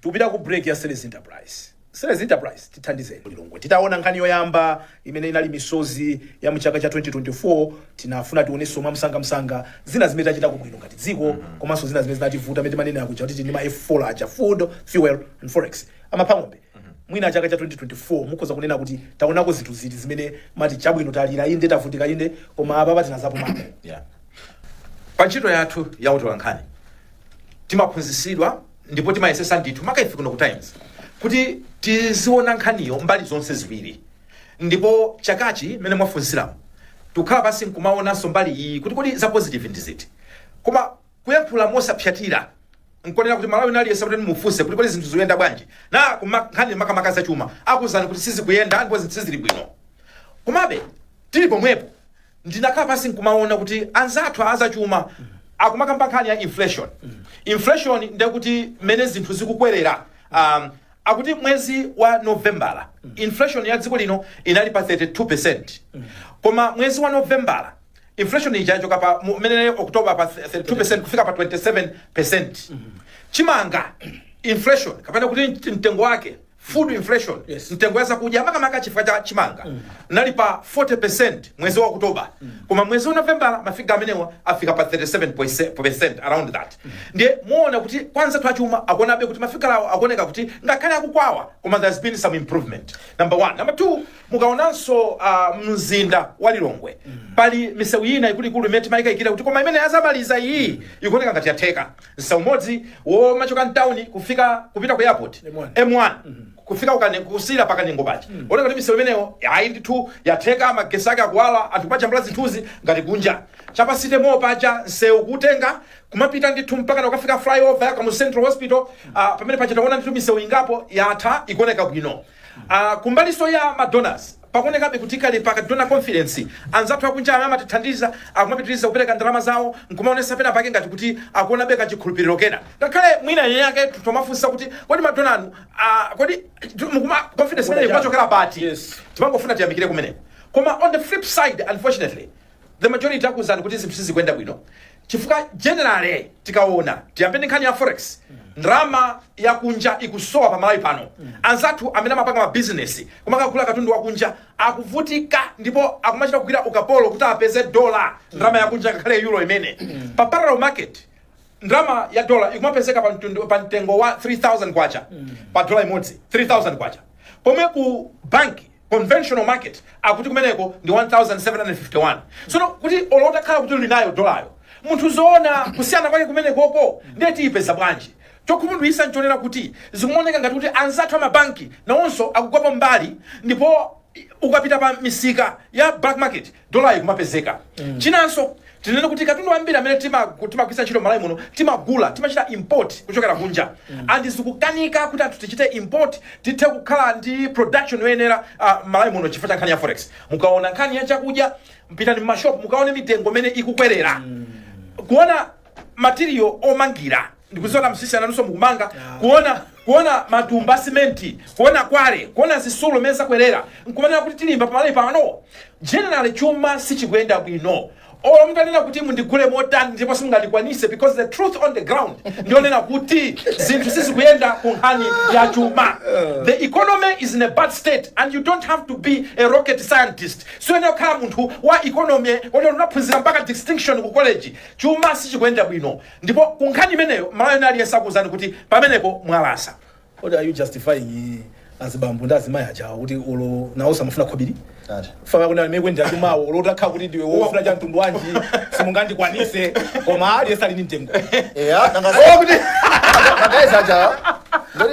Tikupita ku break ya Seles Enterprise. Seles Enterprise tithandizeni. Titaona nkhani yoyamba imene inali misozi ya mchaka cha 2024 tinafuna tionenso mwa msanga msanga zina zimene tachitako bwino ngati dziko mm -hmm. komanso zina zimene zinativuta zimene timanena kuja kuti ndi ma F4 aja food, fuel and forex. Amapha ng'ombe. Mwina chaka cha 2024 mukhoza kunena kuti taonako zinthu ziti zimene mmati chabwino talira inde tavutika inde koma apapa tinadzapumako. Yeah. pa ntchito yathu ya utolankhani timaphunzitsidwa ndipo timayesesa ndithu maka ife kuno ku times kuti tiziona nkhaniyo mbali zonse ziwiri ndipo chakachi mmene mwafunsiramo tikukhala pansi nkumaonanso mbali iyi kuti kodi za positive ndi ziti koma Kuyankhula mosaphyatira, nkonena kuti Mmalawi wina aliyense mutati mumufunse kuti kodi zinthu zikuyenda bwanji nanga kuma nkhani makamaka za chuma, akuuzani kuti sizikuyenda ndipo zinthu sizili bwino. Komabe, tili pomwepo, ndinakhala pansi nkumaona kuti anzathu a zachuma akumakamba nkhani ya inflation. Inflation ndiye kuti mmene zinthu zikukwerera, um, akuti mwezi wa Novembala inflation ya dziko lino inali pa 32%, koma mwezi wa Novembala inflation ija yachoka pa mu- mmene october pa 32 kufika pa 27 chimanga inflation kapena kuti mt- mtengo wake food inflation Yes. mitengo ya zakudya makamaka chifukwa cha chimanga inali pa 40 mwezi wa oktoba koma mwezi wa novembala mafiga amenewa afika pa 37 around that ndiye muona kuti anzathu azachuma akuonabe kuti mafigala awo akuoneka kuti ngakhale akukwawa koma there's been some improvement number one number two mukaonanso uh, mzinda wa lilongwe pali misewu ina ikuluikulu imene timayikayikira kuti koma imene adzamaliza iyi ikuoneka ngati yatheka msewu umodzi womachoka mtawuni kufika kupita ku airport M1. m1 kufika kukane- kusiyira pa Kanengo paja zikuoneka kuti misewu imeneyo ayi ndithu yatheka magesi ake akuwala anthu kumajambula zinthuzi ngati kunja cha pa City Mall paja msewu kutenga kumapita ndithu mpaka kukafika flyover ya Kamuzu Central Hospital ah, pamene paja taona ndithu misewu ingapo yatha ikuoneka bwino a Kumbalinso ya ma donors, pakuonekabe kuti kali pa ka donor confidence. Anzathu akunja amene amatithandiza akumapitiriza kupereka ndalama zawo n'kumaonetsa penapake ngati kuti akuonabe kachikhulupiriro kena. Ngakhale mwina eni aketu tomafunsitsa kuti, kodi madonor inu, a kodi mukuma confidence imeneyi ikumachokera pati? Yes. Timangofuna tiyamikire kumeneko. Koma on the flip side, unfortunately, the majority akuwuzani kuti zinthu sizikuyenda bwino chifukwa generally tikawona tiyambe ndi nkhani ya forex ndalama yakunja ikusowa pa malawi pano anzathu amene amapanga mabizinesi omakagula katundu wakunja akuvutika ndipo akumachita kugwira ukapolo kuti apeze dola ndalama yakunja ngakhale euro imene pa parallel market ndalama ya dola ikumapezeka pa mtundu- pa mtengo wa 3000 kwacha pa dola imodzi 3000 kwacha pomwe ku banki conventional market akuti kumeneko ndi 1751 sono kuti olo utakhala kuti uli nayo dolayo munthu ukaona kusiyana kwake kumenekoko ndiye tiyipeza bwanji chokhumudwisa nchonena kuti zikumaoneka ngati kuti anzathu amabanki nawonso akutengapo mbali ndipo ukapita pa misika ya black market dollar ikumapezeka chinanso tinene kuti katundu wambiri amene timagu- timagwiritsa ntchito malawi muno timagula timachita import kuchokera kunja and zikukanika kuti anthu tichite import tithe kukhala ndi production yoyenera uh, malawi muno chifukwa cha nkhani ya forex mukaona nkhani ya chakudya pitani mmashop mukaone mitengo mmene ikukwerera kuona material omangira ndikudziwa nzisi wanga nanunso mukumanga kuona kuona matumba a simenti kuona quarry kuona zitsulo mmene zakwerera nkumanena kuti tilimba pamalawi pano generally chuma sichikuyenda bwino olo mutanena kuti mundigule motani ndipo simungandikwanise because the truth on the ground ndiyonena kuti zinthu sizikuyenda ku nkhani ya chuma the economy is in a bad state and you don't have to be a rocket scientist suyenera kukhala munthu wa economy woti unaphunzira mpaka distinction ku college chuma sichikuyenda bwino Ndipo ku nkhani imeneyo Mmalawi wina aliyense akuuzani kuti pamenepo mwalasa. What are you justifying azibambo ndi azimayi ajawa kuti olo nawo samafuna khobiri? Ati. Faka kuna mekwe ndi achumawo olo utakhala kuti ndiwe wofuna cha mtundu wanji simungandikwanise koma aliyense ali ndi mtengo. Eya, nanga Kuti magazi aja. Ndoti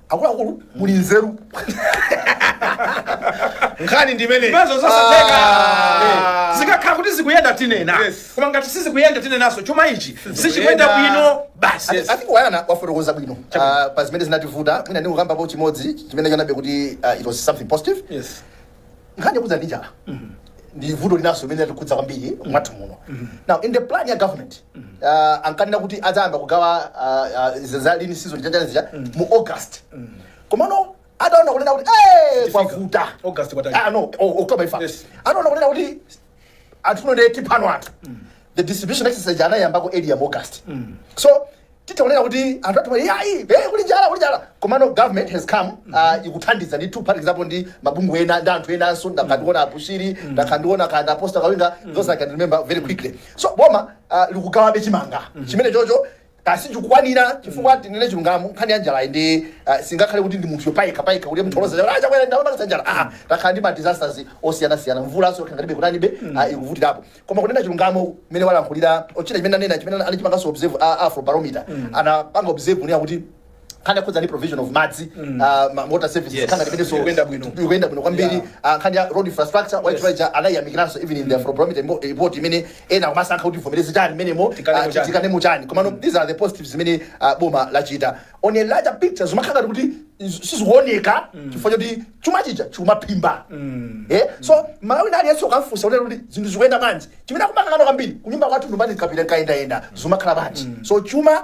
akuluakulu muli nzeru nkhani ndi imeneyi Zimenezo zosatheka. Ah. zikakhala kuti zikuyenda tinena Yes. koma ngati sizikuyenda tinenaso chuma ichi sichikuyenda bwino basi Yes. I think Wayana wafotokoza bwino Ah, pa zimene zinthu zavuta mwina ndingokambapo chimodzi chimene ndaonabe kuti ah, it was something positive Yes. nkhani yokhudza ndi njala ndi vuto linanso limene latikhudza kwambiri mwathu muno now in the plan ya government uh, ankanena kuti adzayamba kugawa uh, uh, za- za lean season za njala zija mu august komano ataona kunena kuti "Eh, kwavuta August kwatali. Ah, no o- october tifa Yes. anaona kunena kuti anthuno ndi tiphano anthu the distribution exercise anayambako earlier mu august so titaonera kuti anthu athu yayi eh, kuli njala kuli njala komano government has come uh, ikuthandiza ndi two parties apo ndi mabungwe ena ndi anthu enanso ndakandiona a bushiri ndakandiona kanda apostle kawinga those i can remember very quickly so boma uh, likugawabe chimanga chimene chocho kaya sichikukwanira chifukwa tinene chilungamo nkhani ya njalayi ndi ah, singakhale kuti ndi munthu yopayika payika kuti mtholoza a chakwera ndamapangitsa njala ah, takhala ndi ma disasters osiyanasiyana mvula siokhanganibe kutanibe ah, ikuvutirapo koma kunena chilungamo mmene walankhulira ochita chimene anena chimene anachipanganso observe ah, afrobarometer anapanga observe kunena kuti nkhani yokhudza ndi provision of madzi ah, ma- water services Yes. nkhani imenenso Ikuyenda bwino. ikuyenda bwino kwambiri Yeah. Ah, nkhani ya road infrastructure white Yes. rider anayiyamikiranso even in the afrobarometer report imene ena akumasankha kuti tivomereze chani mmenemo Tikanemo ah, chani. tikanemo chani komano these are the positives zimene ah, boma lachita on a larger picture zimakhala ngati kuti iz- sizikuoneka chifukwa choti chuma chija chikumaphimba Eh, so mmalawi wina aliyense ukamfunsa kuti kuti zinthu zikuyenda bwanji chimene akumakangana kwambiri kunyumba kwathu ndumani kapita nkayendayenda zimakhala bwanji so chuma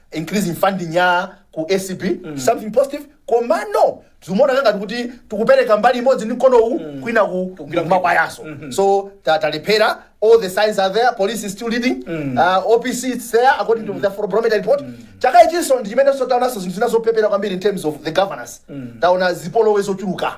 increasing funding ya ku acb something positive komano zimaoneka ngati kuti tikupereka mbali imodzi ndi mkono uwu kwinaku kumakwayanso so ta- talephera all the signs are there police is still leading uh, opc is there according to the barometer report chaka ichinso ndi chimenenso taonanso zinthu zina zopepera kwambiri in terms of the governance taona zipolowe zochuluka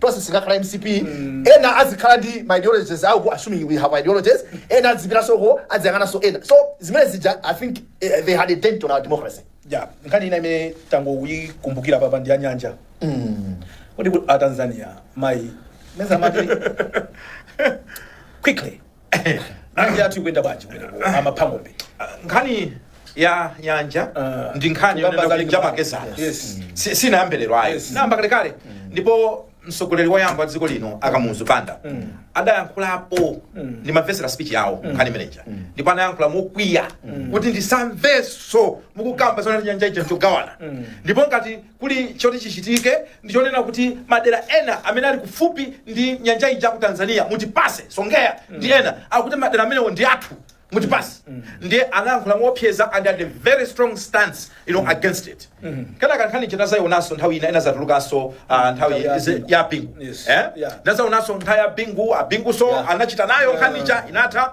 tonse sitingakhale mcp ena azikhala ndi ma ideologies awo assuming we have ideologies ena azipitanso uko aziyang'ananso ena so zimene zija i think eh, they had a dent on our democracy yeah nkhani ina imene tangoyikumbukira apapa ndi ya nyanja kodi ku- a tanzania mayi meza mati quickly Nyanja yathu ikuyenda bwanji kumeneko amapha ng'ombe nkhani ya nyanja Ah. ndi nkhani Kugamba yonena za kuti Linga Park. njamakedzana Yes. Si- sinayambe lero ayi Yes. inayamba kalekale ndipo mtsogoleri woyamba wa dziko lino a kamuzu banda adayankhulapo ndimamvetsera speech yawo nkhani imeneja ndipo anayankhula mokwiya kuti ndisamvenso mukukamba zonena nyanja ija njogawana ndipo ngati kuli choti chichitike ndi chonena kuti madera ena amene ali kufupi ndi nyanja ija ku tanzania mutipatse songea ndi ena akuti madera amenewo ndi athu mutipatse ndiye anayankhula moopseza and had a very strong stance you know, against it kenaka nkhani ija nadzayionanso nthawi ina inadzatulukanso ah, nthawi Nthawi ya ze- Bingu. ya bingu Yes. Eh? Yeah. nadzayionanso nthawi ya bingu a bingunso Yeah. anachita nayo nkhani ija inatha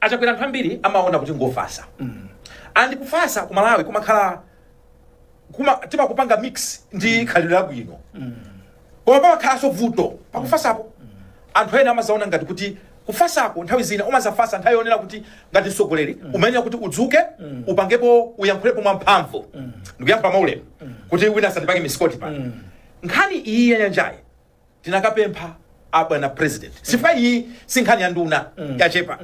achakwera anthu ambiri amaona kuti ngofasa and kufasa ku malawi kumakhala timakupanga mix ndi khalidwe labwino koma pamakhalanso vuto pakufasapo anthu ena amazaona ngati kuti kufasako nthawi zina umazafasa nthawi yonena kuti ngati mtsogoleri umayenera kuti udzuke upangepo uyankhulepo mwa mphamvu ndikuyankhula maulemu kuti wina asandipange misikoti pano nkhani iyi ya nyanjayi tinakapempha abwana president chifukwa iyi si nkhani ya nduna yachepa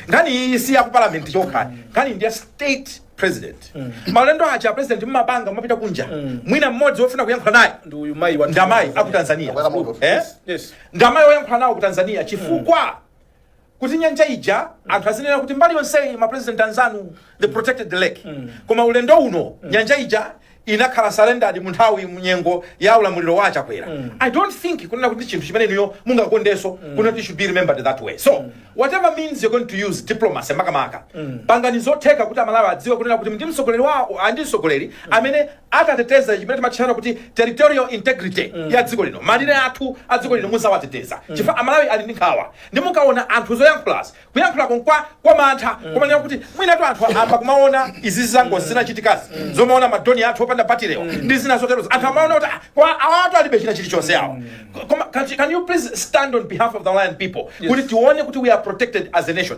nkhani iyi si ya ku parliament chokha nkhani ndi ya state president maulendo aja a president mmapanga mmapita kunja mwina mmodzi wofuna kuyankhula naye ndi uyu mayi wa ndamayi aku tanzania Akwera moto. eh? Yes. ndamayi oyankhula nawo ku tanzania chifukwa kuti nyanja ija anthu azinena kuti mbali yonseyi ma president anzanu they protected the lake koma ulendo uno nyanja ija inakhala surrendered mu nthawi mnyengo ya ulamuliro wa achakwera i don't think kunena kuti ndi chinthu chimene inuyo mungakondenso kunena kuti should be remembered that way so whatever means you're going to use diplomacy makamaka pangani zotheka kuti amalawi adziwe kunena kuti ndi mtsogoleri wawo and mtsogoleri amene atateteza chimene timatchana kuti territorial integrity ya dziko lino malire athu a dziko lino muzawateteza chifukwa amalawi ali ndi nkhawa nde mukaona anthu zoyankhulazi kuyankhulako nkwa kwa mantha kumanena kuti mwinatu anthu ayamba kumaona izi zangozi zinachitikazi zomaona madrone athu opanda batirewo ndi zina zoterozo anthu amaona kuti "Ah, koma awatu alibe china chilichonse awo koma can you- can you please stand on behalf of the malawian people kuti tione kuti we are protected as a nation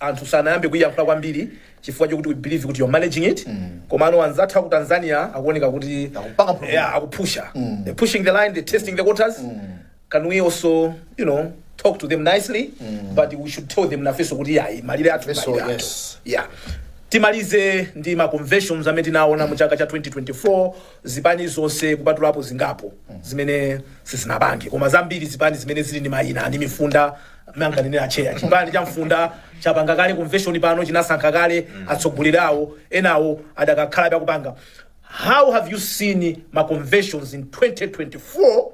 anthu sanayambe kuiyankhula kwambiri chifukwa chokuti we believe kuti you're managing it komano anzathu aku tanzania akuoneka kuti Akupanga program. yeah, akupusha they're pushing the line they're testing the waters can we also you know talk to them nicely but we should tell them nafeso kuti yayi malire athu Nafeso, malire athu yes. yeah timalize ndi ma conventions amene tinaona mu chaka cha 2024 zipani zonse kupatulapo zingapo zimene sizinapange koma zambiri zipani zimene zili ndi mayina ndi mifunda monga amanenera a cheya chipani cha mfunda chapanga kale convention pano chinasankha kale atsogoleri awo enawo adakakhalabe akupanga how have you seen ma conventions in 2024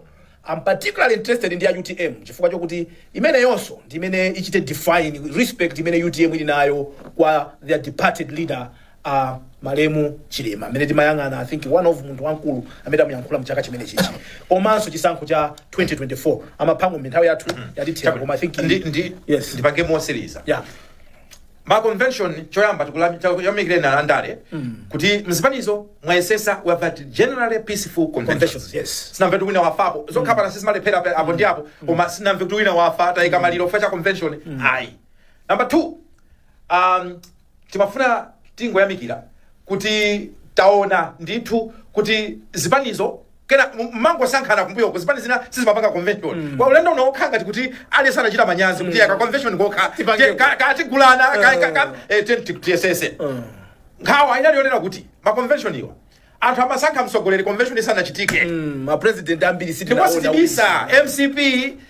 Am particularly interested ndi ya utm chifukwa chokuti imeneyonso ndi imene ichite define respect imene utm ili nayo kwa their departed leader a malemu chilima amene tikumuyang'ana i think one of munthu wamkulu amene amuyankhula mchaka chimenechichi komanso chisankho cha 2024 amaphango nthawi yathu yatithera koma i think Ndi, ndi, yes ndipange motsiriza yeah ma convention choyamba tikuyamikireni alandale kuti mzipanizo mwayesesa we have had generally peaceful conventions Conventions, yes. sinamve kuti wina wafapo zokhapana sizimalephera pe- apo ndi apo koma sinamve kuti wina wafa tayika maliro chifukwa cha convention ayi number two um, timafuna tingoyamikira kuti taona ndithu kuti zipanizo kena mmangosankhana kumbuyo uko zipani zina sizimapanga convention kwa ulendo uno wokha ngati kuti aliyense anachita manyazi kuti aka convention yokha tipange tiye- ka- katigulana ka- ka- ka- eh, tiye ti- tiyesese nkhawa inali yonena kuti ma convention awa anthu amasankha mtsogoleri convention isanachitike mapresident ambiri ndipo sitibisa mcp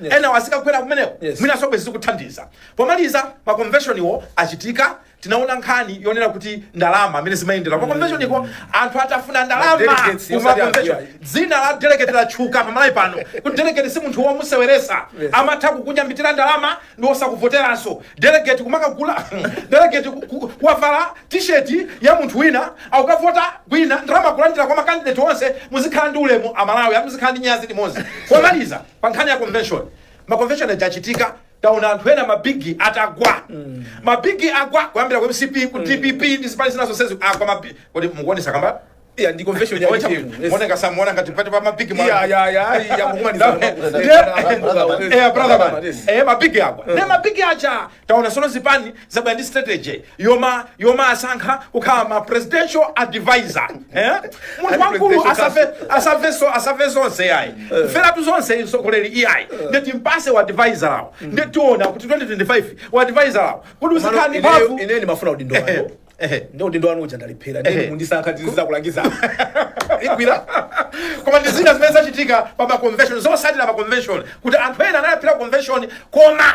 Yes. enawo azikagwera kumeneko Yes. mwinanso bwezi zikukuthandiza pomaliza makonveshoniwo achitika tinaona nkhani yonena kuti ndalama mmene zimayendera kumakonveshoniko anthu atatafuna ndalama Delegates, ku osati makonveshoni anthu dzina la delegate latchuka pa Malawi pano kuti delegate si munthu womuseweresa Yes. amatha kukunyambitira ndalama ndi osakuvoteranso delegate kumakagula delegate ku- ku- kuwavala tisheti ya munthu wina akukavota kwina ndalama kulandira kwa makandidate onse muzikhala ndi ulemu aMalawi muzikhala ndi manyazi limodzi pomaliza pa nkhani ya convention ma convention aja achitika taona anthu ena mabigi atagwa mabigi agwa kuyambira ku mcp ku dpp ndi zipani zina zonsezi agwa mabigi kodi mukuona zakambayi ndi convention ya ya UTM. yes. muoneka simuona ngati pali ma mabigi mwa- iya iya iya iya mukumaliza Ndiye- Eh, brother man. Yes. Eh, mabigi agwa nde mabigi aja Taona sono zipani zabwera ndi strategy yoma yomawasankha kukhala ma presidential advisor eh munthu wankulu asafe asafe so asafe zonse iyayi kuferatu zonse mtsogoleri iyayi ndeti mpatse u advisor awo ndeti tiona kuti 2025 wa advisor awo kuti usikhani mphamvu ine ndimafuna udindo wanu Ehe. ndi udindo wanu uja ndalephera Ehe. ndi mundisankha ndizidzakulangizani igwira koma ndi zina zimene zachitika pa ma convention zotsatira za convention kuti anthu ena analephera convention koma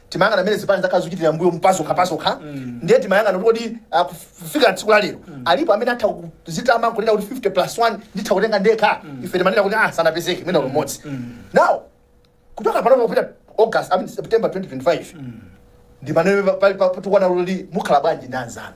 timayang'ana mmene zipani zakhala zikuchitira mbuyomu pazokha pazokha ndiye timayang'ana kuti kodi ah, kuf- kufika tsiku la lero alipo amene atha kudzitama nkunena kuti 50 plus 1 nditha kutenga ndekha ife timanena kuti ah sanapezeke mwina mmodzi now kuchoka panopa kupita august I mean, september 2025 ndi mmene patakwana kuti mukhala bwanji ndi anzanu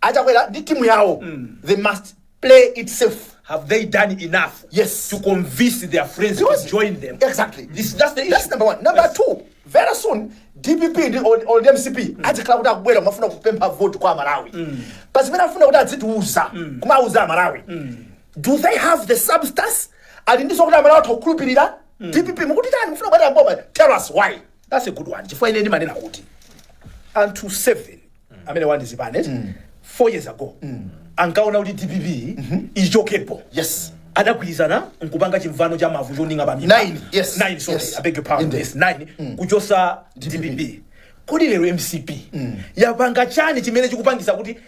Achakwera ndi timu yawo they must play it safe. Have they done enough Yes. to convince their friends Because- to join them? Exactly. This, that's the issue. That's number one. Number Yes. two, very soon DPP ndi or, or the MCP adzikhala kuti akubwera kumafuna kupempha vote kwa aMalawi. Pa zimene afuna kuti adzitiuza kumauza aMalawi. Do they have the substance? Ali ndi zokuti aMalawi atha kukhulupirira? DPP mukuti tani mufuna kubwera mboma? Tell us why. That's a good one. Chifukwa ine ndimanena kuti anthu 7 amene anali ndi zipani 4 years ago ankaona kuti DPP ichokepo. Yes. Adagwirizana nkupanga chimvano cha mavu choninga pa mimba. Nine, yes. Nine, sorry. Yes. I beg your pardon. Indeed. Yes, nine. Kuchotsa DPP. Kodi lero MCP yapanga chani chimene chikupangisa kuti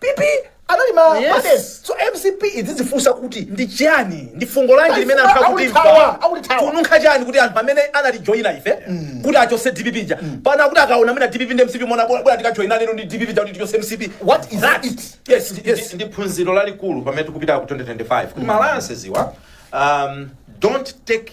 pp anali ma Yes. madem. so mcp idzidzifunsa kuti ndi chiyani ndi fungo lanji limene anthu Akutithawa, akutimva akutithawa. kununkha chiyani kuti anthu amene anatijoyina ife kuti achose dpp ija pana kuti akaona mwina dpp ndi mcp mona bwera tikajoyina lero ndi dpp ija kuti tichose mcp What is that it? yes Ndi- yes ndi phunziro lalikulu pamene tikupita ku 2025 kuti ma alliances awa um, don't take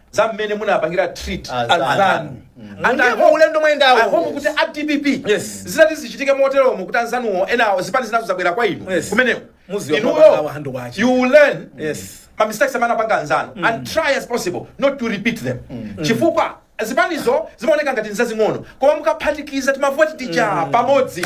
za mmene munapangira treat Anzanu. anzanu Ndiye mu ulendo mwayendawo. ahomo kuti a dpp Yes. zitati zichitike moteromo kuti anzanuwo enawo zipani zinazo zabwera kwa inu Yes. kumeneko Muziwa Inuyo, mapanga awo handu kwache. you will learn Yes. ma mistakes amene apanga anzanu and try as possible not to repeat them chifukwa zipanizo zimaoneka ngati nzazing'ono koma mukaphatikiza timavoti tija pamodzi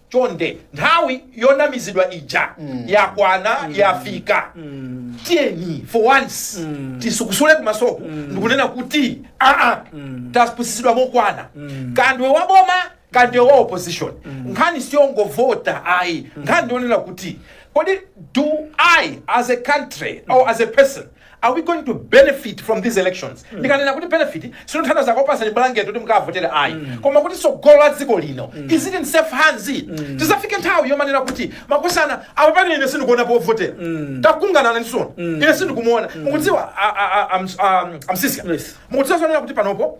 chonde nthawi yonamizidwa ija yakwana yafika tiyeni for once tisukusule kumasoku ndikunena kuti aa tapusisidwa mokwana kaya ndiwe wa boma kaya ndiwe wa opposition nkhani siyongovota ayi nkhani ndionena kuti kodi do i as a country or as a person Are we going to benefit from these elections? Ndikanena kuti benefit sindikuthandauza zokupasani blanket kuti mukavotere ayi. Koma kuti tsogolo la dziko lino is it in safe hands? Tizafike nthawi yomanena kuti makosana apapa ine sindikuona povotera. Takungana nani sono. Ine sindikumuona. Mukudziwa a- a- a- am- am- amsisya. Yes. Mukudziwa zonena kuti panopo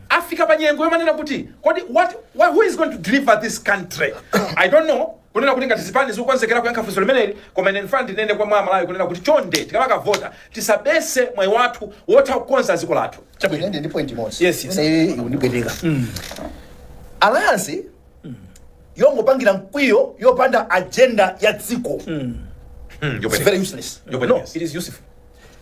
afika pa nyengo yomanena kuti kodi what, what, who is going to deliver this country i don't know kunena kuti ngati zipani zikukonzekera kuyankha funso limeneli koma ine ndifuna ndinene kwa mwa amalawi kunena kuti chonde tikamakavota tisabese mwayi wathu wotha kukonza dziko lathu Ine ndi point imodzi Yes, yes. Ine iyi ikundipweteka alliance yongopangira mkwiyo yopanda agenda ya dziko Mm, It's yopweteka. very useless Yopweteka, No, yes. it is useful.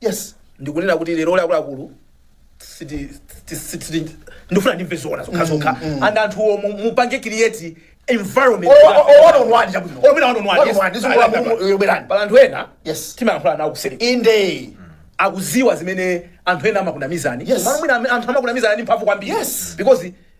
Yes, ndikunena kuti lero la akuluakulu siti- siti- siti- siti- ndifuna ndimve zoona zokhazokha and anthuwo mu- mupange create environment Oh, oh, oh, one on one, chabwino. Oh, mina one on one, One yes. on one, this is what I'm- you're behind. Pali anthu ena Yes. timayankhula nawo kuseri inde akuziwa zimene anthu ena amakunamizani Yes. Malo mwina ame- anthu amakunamizani ndi mphamvu kwambiri Yes. because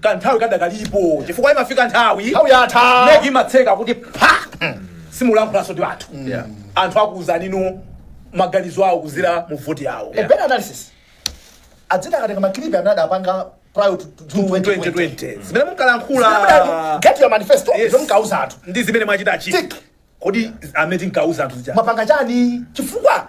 kanthawi kadakalipo chifukwa imafika nthawi nthawi yatha meki imatseka kuti apa simulankhulanso ndi anthu Yeah. anthu akuuzanino maganizo awo kuzira mu voti yawo a better analysis adzina akatenga makilipi amene adapanga prior to to 2020 2020 zimene munkalankhula get your manifesto Yes. zomwe munkauza anthu ndi zimene mwachitazi Tick. kodi zimene tinkauza anthu zija mwapanga chani chifukwa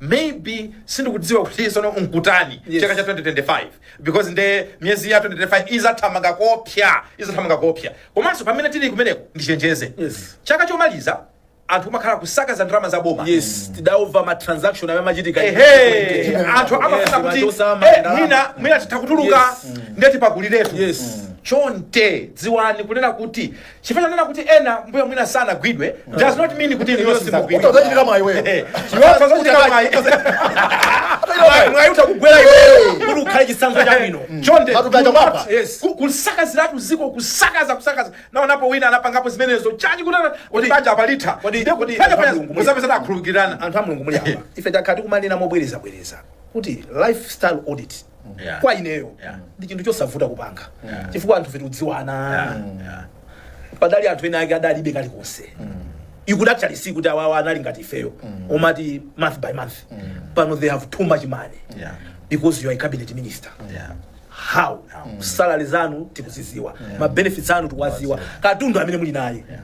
maybe sindikudziwa kuti sono nkutani Yes. chaka cha 2025 because nde miyezi ya 2025 izathamanga koopsya izathamanga koopsya komanso pamene tili kumeneko ndichenjeze Yes. chaka chomaliza anthu kumakhala kusakaza ndalama za boma yes tidaona ma transaction amene amachitika ehe anthu amafuna Yes, kuti machosa, eh, mandalama. mwina mwina titha kutuluka Yes. nde tipakuliretu Yes. chonde dziwani kunena kuti Chifukwa chonena kuti ena mbuyo mwina sanagwidwe does not mean kuti inuyo simudzagwidwa. Udzachitika mwayi iwe. Eh, iwe udzachitika mwayi. Mwayi- mwayi utakugwera iweyo kuti ukhale chitsanzo chabwino. Chonde, Matupi aja mwapa. yes, ku- kusakaziratu dziko kusakaza kusakaza naonapo wina anapangapo zimenezo chachi kunena kuti paja apalitha Kodi- Ndiye kodi- paja paja Mulungu, muzapeza akhululukirana anthu a mulungu muli apa ife takhala tikumanena mobwerezabwereza kuti lifestyle audit Yeah. kwa ineyo Yeah. ndi chinthu chosavuta kupanga Yeah. chifukwa anthufe tikudziwana Yeah, yeah. padali anthu ena ake adalibe kalikonse you could actually see kuti awawa anali ngati ifeyo omati month by month pano they have too much money Yeah. because you are a cabinet minister Yeah. how salary zanu tikuziziwa ma benefits anu tikuwaziwa katundu amene muli naye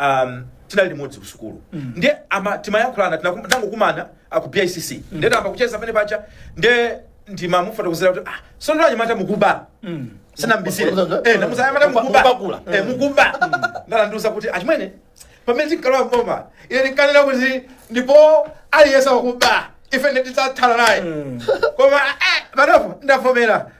um, tinali limodzi ku sukulu mm. ndiye ama timayankhulana tinakum- tinangokumana ku bicc mm. ndiye tayamba kucheza penapake ndiye ndimamufotokozera kuti ah, sono anyamata mukuba mm. sinambisire Mukuba- eh, namuuza anyamata mukuba- mukuba mukupakula. eh, mukuba ndiye anandiuza kuti achimwene pamene tinkalowa mboma ine ndinkanena kuti ndipo aliyense wakuba ife tidzathana naye koma eh, panopo ndavomera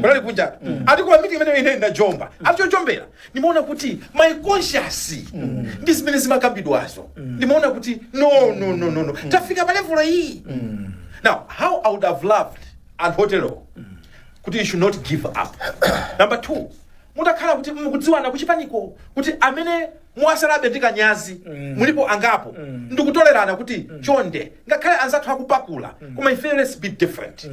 kunali kunja ati koma meeting imene ine ndinajomba ati chojombera ndimaona kuti my conscience ndi zimene zimakambidwazo ndimaona kuti no no no no no tafika pa level iyi now how i would have loved anthu otero kuti you should not give up number two mutakhala kuti mukudziwana kuchipaniko kuti amene Mwatsalabe ndi kanyazi mulipo angapo ndikutolerana kuti chonde ngakhale anzathu akupakula koma ife let's be different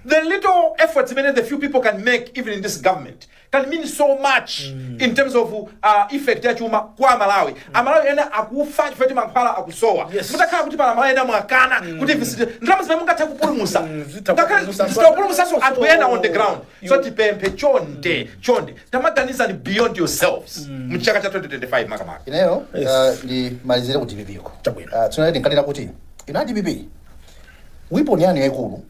the little efforts zimene the few people can make even in this government can mean so much in terms of uh, effect ya chuma kwa amalawi amalawi ena akufa chifukwa kuti mankhwala akusowa Yes. mutakhala kuti pali amalawi ena mwakana kuti zisathe ndalama zimene mungathe kupulumusa zitha ngakhale kupulumusanso zitapulumusanso anthu ena on the ground so tipemphe chonde chonde tamaganizani beyond yourselves mchaka cha 2025 makamaka ineyo uh, ndimalizire ku dpp ko Chabwino. uh, tsono ndinkalira kuti inu a dpp weapon yanu yaikulu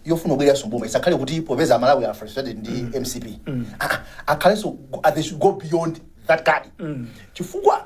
yofuna kubwereranso mboma isakhale kuti popeza amalawi are frustrated ndi mcp Ah, ah, akhalenso go- ah, they should go beyond that card chifukwa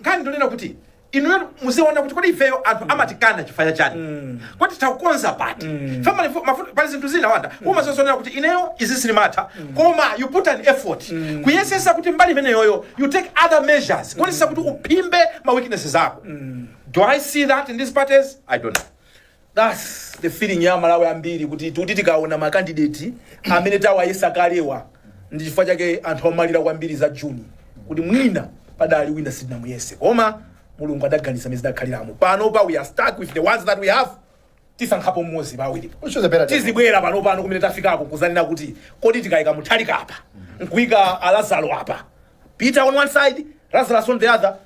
nkhani ndonena kuti inuyo muziona kuti kodi ifeyo anthu amatikana chifukwa cha chani mm. kodi titakonza pati mm. family pali zinthu zina wanda mm. umazazionera kuti ineyo izi sindimatha mm. koma you put an effort mm. kuyesesa kuti mbali imeneyoyo you take other measures kuonesesa kuti uphimbe ma weaknesses ako mm. do i see that in these parties i don't know Thus the feeling ya amalawi ambiri kuti tikuti tikaona ma candidate amene tawayesa kalewa ndi chifukwa chake anthu amalira kwambiri za June kuti mwina padali wina sitinamuyese koma mulungu adaganiza mene zidakhaliramo pano pa we are stuck with the ones that we have tisankhapo mmodzi pa awiri Which was a better time. tizibwera pano pano kumene tafikako kuzanena kuti kodi tikayika Mutharika apa nkuyika alazaro apa peter on one side lazarus on the other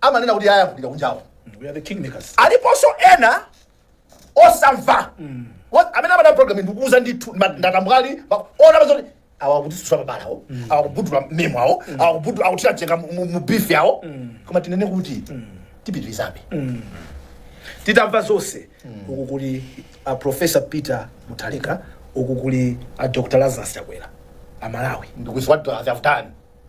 amanena kuti aya kulira kunjawo We are the kingmakers. aliponso ena osamva Wa- amene amadana program ndikuuza ndithu ma- ndatambwali ma- ona pazoti awagulitsitsa mabalawo awakubudula mmemo awo awakubudula awathira jenga mu- mu mu beef yawo koma tinene kuti tipitirizabe titamva zonse uku kuli a professor peter mutharika uku kuli a dr lazarus chakwera amalawi ndikuziwa avutani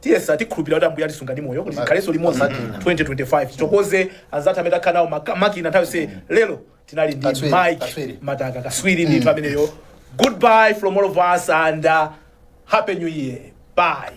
tiyesa tikhulupirira kuti ambuye atisunga ndi moyo kuti tikhalenso limodzi 2025 tithokoze anzathu amene takhala nawo maka- makina nthawi yonse lero tinali ndi Katswiri, mike katswiri. mataka kaswiri ndithu ameneyo goodbye from all of us and uh, happy new year bye